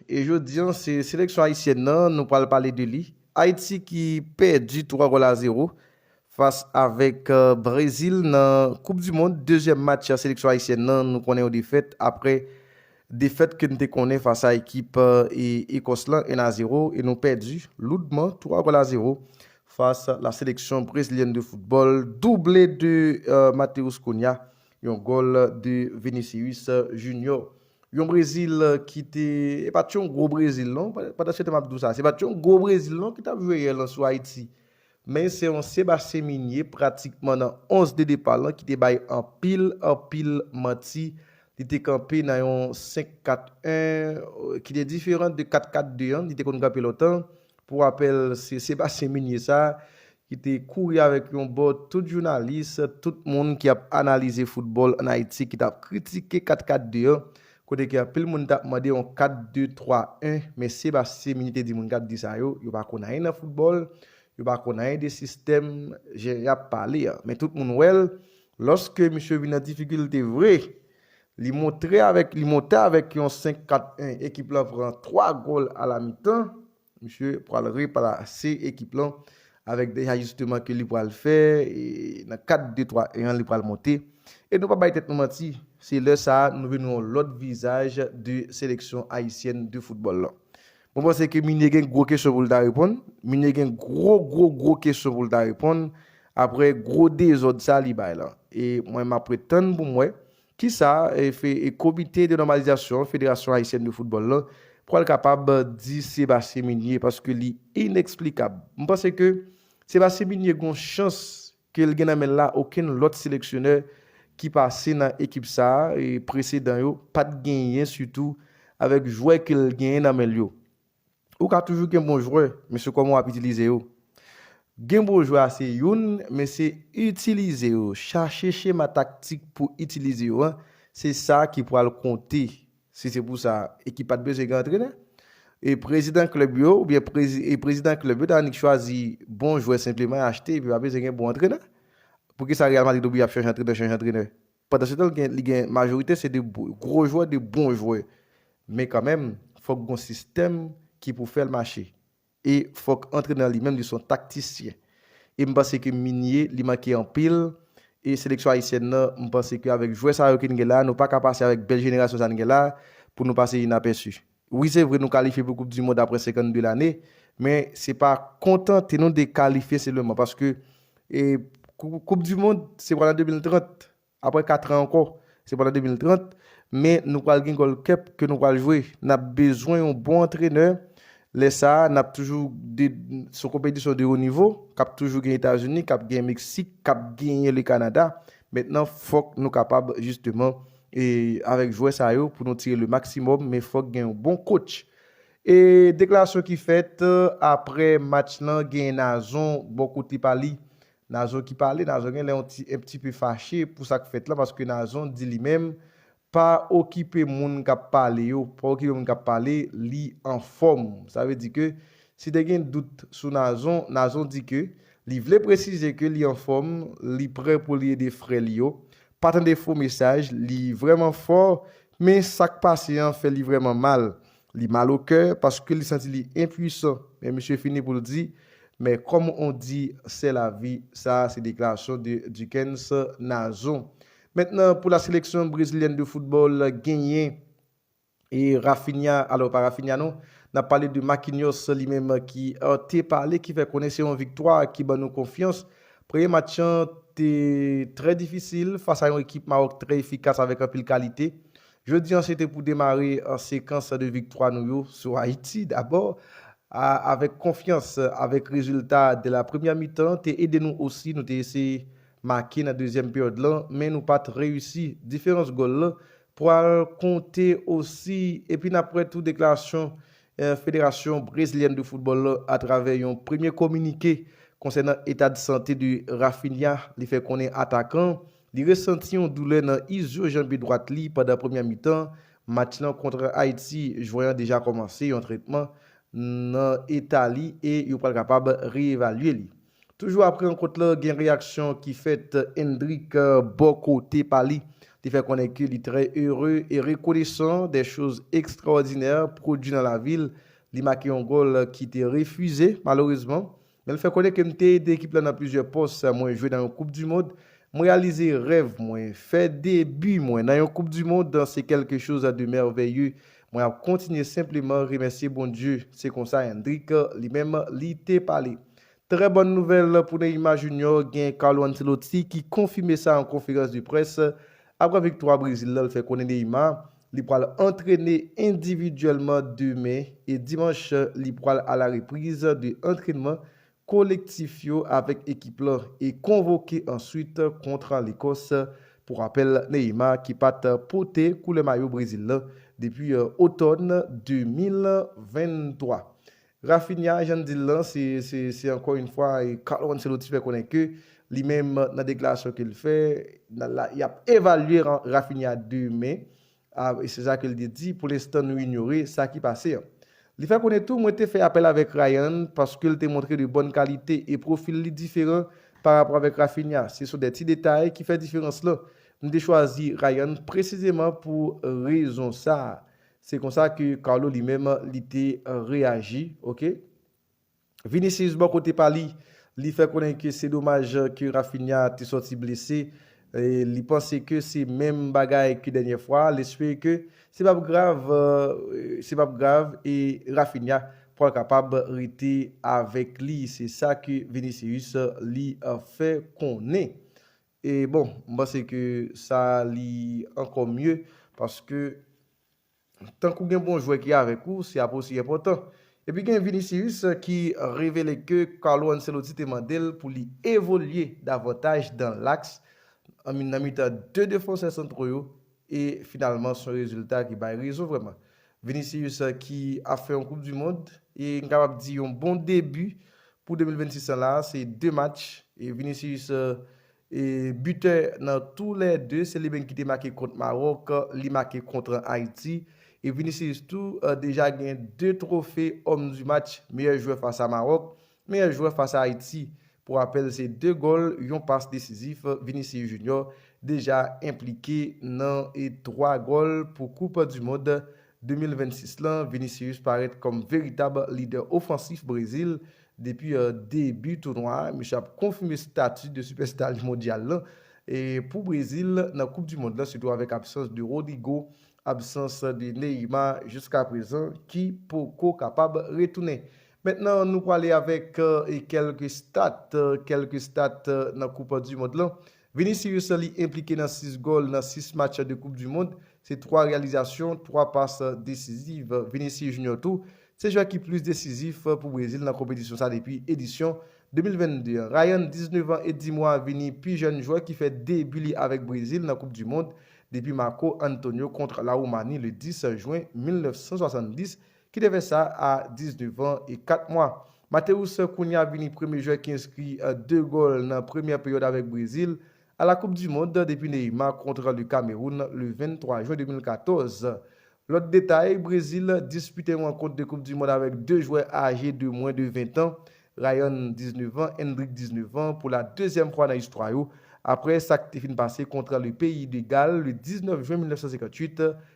E jodi an se seleksyon ayisyèn nan nou pral pale de li. Ayiti ki pèdi 3 gòl a 0 fas avèk Brezil nan koup di mond. Dezyèm match seleksyon ayisyèn nan nou konnen yon defèt aprè defèt ke n te konnen fas a ekip Ekòs lan 1 a 0 e nou pèdi loudman 3 gòl a 0 fas la seleksyon brezilyèn de foutbòl. Double de Mateus Cunha Yon gòl de Vinicius Junior. Yon Brezil ki te, e pa t yon gwo Brezil non, pandan se tan m ap di w sa, se pa t yon gwo Brezil non ki t ap jwe yè lan sou Ayiti. Men se yon Sebastien Migné pratikman nan 11 de depa lan ki te bay anpil, anpil manti. Li te kanpe nan yon 5-4-1 ki te diferan de 4-4-2 an li te konn kanpe lontan. Pou rapèl, se Sebastien Migné sa ki te kouri avèk yon bò, tout jounalis, tout moun ki ap analize foutbòl ann Ayiti ki t ap kritike 4-4-2 an, kote ke anpil moun t ap mande yon 4-2-3-1, men se paske Mini te di moun k ap di sa yo, yo pa konn anyen nan foutbòl, yo pa konn anyen de sistèm jè y ap pale an. Men tout moun wè l, lòske misye vin nan difikilte vre, li montre avèk, li monte avèk yon 5-4-1, ekip lan pran 3 gòl a la mitan, Misye pral replase ekip lan avèk de ajisteman ke li pral fè e nan 4 2 3 1 an li pral monte. E nou pa bay tèt nou manti, se lè sa a nou vin wè yon lòt vizaj de seleksyon ayisyèn de foutbòl lan. Mwen panse ke Minie gen gwo kesyon pou l ta reponn, Minie gen gwo gwo gwo kesyon pou l ta reponn aprè gwo dezòd sa li bay lan. E mwen m ap ret tann pou m wè Kisa komite de nòmalizasyon federasyon ayisyèn de foutbòl lan pwal kapab di Sébastien Migné paske li ineksplikab. M panse ke Sébastien Migné gon chans ke l gen nan men l la okenn lòt seleksyonè ki pase nan ekip sa presedan yo pat genyen sitou avèk jwè ke l genyen nan men l yo. Ou ka toujou gen bon jwè, men se kòman w ap itilize yo. Gen bon jwè a se youn, men se itilize yo, chache chema taktik pou itilize yo an, se sa ki pral konte. Si se pou sa, ekip pa t bezwen gen antrenè. E prezidan klèb yo oubyen prezidan klèb yo ta annik chwazi bon jwè senpleman, achte epi pa bezwen gen bon antrenè. Poukisa Real Madrid oblije ap chanje antrenè, chanje antrenè? Pandansetan li gen majorite se 2 gwo jwè, 2 bon jwè. Men kanmenm, fòk gon sistèm ki pou fè l mache. E fòk antrenè an li menm li son taktisyen. E m panse ke Minie li manke anpil. E seleksyon ayisyèn nan, m panse ke avèk jwè sa yo ke n gen la, nou pa ka pase avèk bèl jenerasyon sa n gen la pou nou pase inapèsi. Wi se vre nou kalifye pou koup di mond aprè 52 lane, men se pa kontante nou de kalifye selman paske koup di mond se pral an 2030, aprè 4 tran ankò se pral an 2030, men nou pral gen gold cup ke nou pral jwe, nap bezwen yon bon antrenè, lè sa nap toujou son konpetisyon de wo nivo, kap toujou gen Etazini, kap gen Meksik, kap genyen le Kanada, mentnan fòk nou kapab jisteman. E avèk jwè sa yo pou nou tire le maksimòm men fòk gen yon bon kotch. E deklarasyon ki fèt aprè match lan genyen Nazon bò kote pa li. Nazon ki pale, Nazon genlè yon ti enpti pe fache pou sa k fèt la paske Nazon di li menm pa okipe moun k ap pale yo, pa okipe moun k ap pale, li anfòm. Sa vle di ke si te gen dout sou Nazon, Nazon di ke li vle presize ke li anfòm, li prè pou li ede frè li yo Pa tande fo mesaj li vrèman fò men sak pase an fè li vrèman mal li mal o kè paske li santi li enpuisan men misye fini poul di mè kòm on di sè la vi sa se deklarasyon de Duckens Nazon mètnan pou la seleksyon brezilyèn de foutbòl genyen E Raphinha, alò pa Raphinha non, n ap pale de Marquinhos li menm ki te pale ki fè konnen se yon viktwa ki ban nou konfyans. Premye match lan te trè difisil fas a yon ekip Mawòk trè efikas avèk anpil kalite. Jodi an se te pou demare sekans de viktwa nou yo sou Ayiti dabò avèk konfyans avèk rezilta de la premyè mitan te ede nou osi nou te eseye make nan dezyèm peryòd lan men nou pa t reyisi diferans gòl lan pral konte osi epi n ap wè tou deklarasyon Federasyon Brezilyèn de Foutbòl la atravè yon premye kominike konsènan etad sante de Raphinha li fè konnen atakan li resanti yon doulè nan izyo janbe dwat li pandan premyè mitan match lan kontra Ayiti jwè an deja kòmanse yon trètman nan eta li e yo pral kapab reyevalye li. Toujou apre rankont la, gen reyaksyon ki fèt, Endrick bò kote pa li, te fè konnen ke li trè ere e rekonesan dè choz ekstraòdinè pwodui nan lavi l, li make yon gòl ki te refize malerezman, men l fè konnen ke m te ede ekip la nan plizyè pòs, mwen jwe nan yon koup du mond, m reyalize rèv mwen, fè de bi mwen nan yon koup du mond se kèlke choz de mèvèye, mwen ap kontinye senpleman remèsye Bondye, se konsa Endrick li menm li te pale. Trè bòn nouvèl pou Neymar Junior, gen Carlo Ancelotti ki konfime sa an konferans de près aprè viktwa Brezil lan l fè konnen Neymar li pral antrene endividyèlman demen e dimanch li pral a la repriz de antrenman kolektif yo avèk ekip lan e konvoke answit kont Lekòs Pou rapèl Neymar ki pat pote koulè mayo Brezil lan depi otòn 2023 Raphinha, jan n di l lan, se se ankò yon fwa Carlo Ancelotti fè konnen ke li menm nan deklarasyon ke l fè, y ap evalye Raphinha demen, se sa ke l te di, pou lenstan nou inyore sa ki pase an. Li fè konnen tou, mwen te fè apèl avèk Ryan paske l te montre de bòn kalite e pwofil li diferan pa rapò avèk Raphinha. Se sou de ti detay ki fè diferans lan. M te chwazi Ryan presizeman pou rezon sa a. Se konsa ke Carlo li menm li te reyaji ok. Vinicius bò kote pa li, li fè konnen ke se domaj ke Raphinha te sòti blese, li panse ke se menm bagay ke dènyè fwa, li espere ke se pap grav, se pap grav e Raphinha pwal kapab rete avèk li, se sa ke Vinicius li fè konnen. E bon, m panse ke sa li ankò mye paske tankou gen bon jwè ki avèk ou, se ap osi enpòtan. Epi gen Vinicius ki revele ke Carlo Ancelotti te mande l pou li evolye davantaj dan laks nan mitan 2 defansè santro yo E finalman son rezilta ki bay rezon vrèman. Vinicius ki ap fè yon koup du mond e m kapab di yon bon debi pou 2026 an la se 2 match e Vinicius e butè nan tou lè 2 se li menm ki te make kont Maroc li make kontra Haiti e Vinicius tou deja gen 2 trofe homme du match meyè jwè fas a Maroc Meyè jwè fas a Ayiti. Pou rapèl se 2 gòl, yon pas desizif Vinicius Junior deja enplike nan 3 gòl pou koup du mond 2026 lan. Vinicius parèt kòm veritab lidè ofansif Brezil depi debi tounwa a. Misye ap konfime stati de sipèsta li mondyal lan pou Brezil nan koup du mond lan sitou avèk absans de Rodrygo, absans de Neymar jiskaprezan ki poko kapab retounen. Mentnan nou pwale avèk e kèlke stat, kèlke stat nan koup du mond lan. Vinicius li enplike nan 6 gòl nan 6 match de koup du mond, se 3 reyalizasyon, 3 pas desiziv. Vinicius Junior tou se jwè ki plis desizif pou Brezil nan konpetisyon sa depi edisyon 2022 an. Ryan 19 an et 10 mwa vini pi jèn jwè ki fè debi li avèk Brezil nan koup du mond depi Marco Antonio kontr la Roumani le 10 jwen 1970 ki te fè sa a 19 an e 4 mwa. Mateus kounye a vini premye jwè ki enskri 2 gòl nan premyè peryòd avèk Brezil a la koup di mond depi Neymar kont Le Cameroun le 23 jen 2014. Lòt detay, Brezil dispite yon rankont de koup di mond avèk 2 jwè aje de mwen de 20 an, Ryan, 19 an, Endrick, 19 an, pou la dezyèm fwa nan istwa yo, aprè sa ki te fin pase kont le peyi de Gal le 19 jen 1958,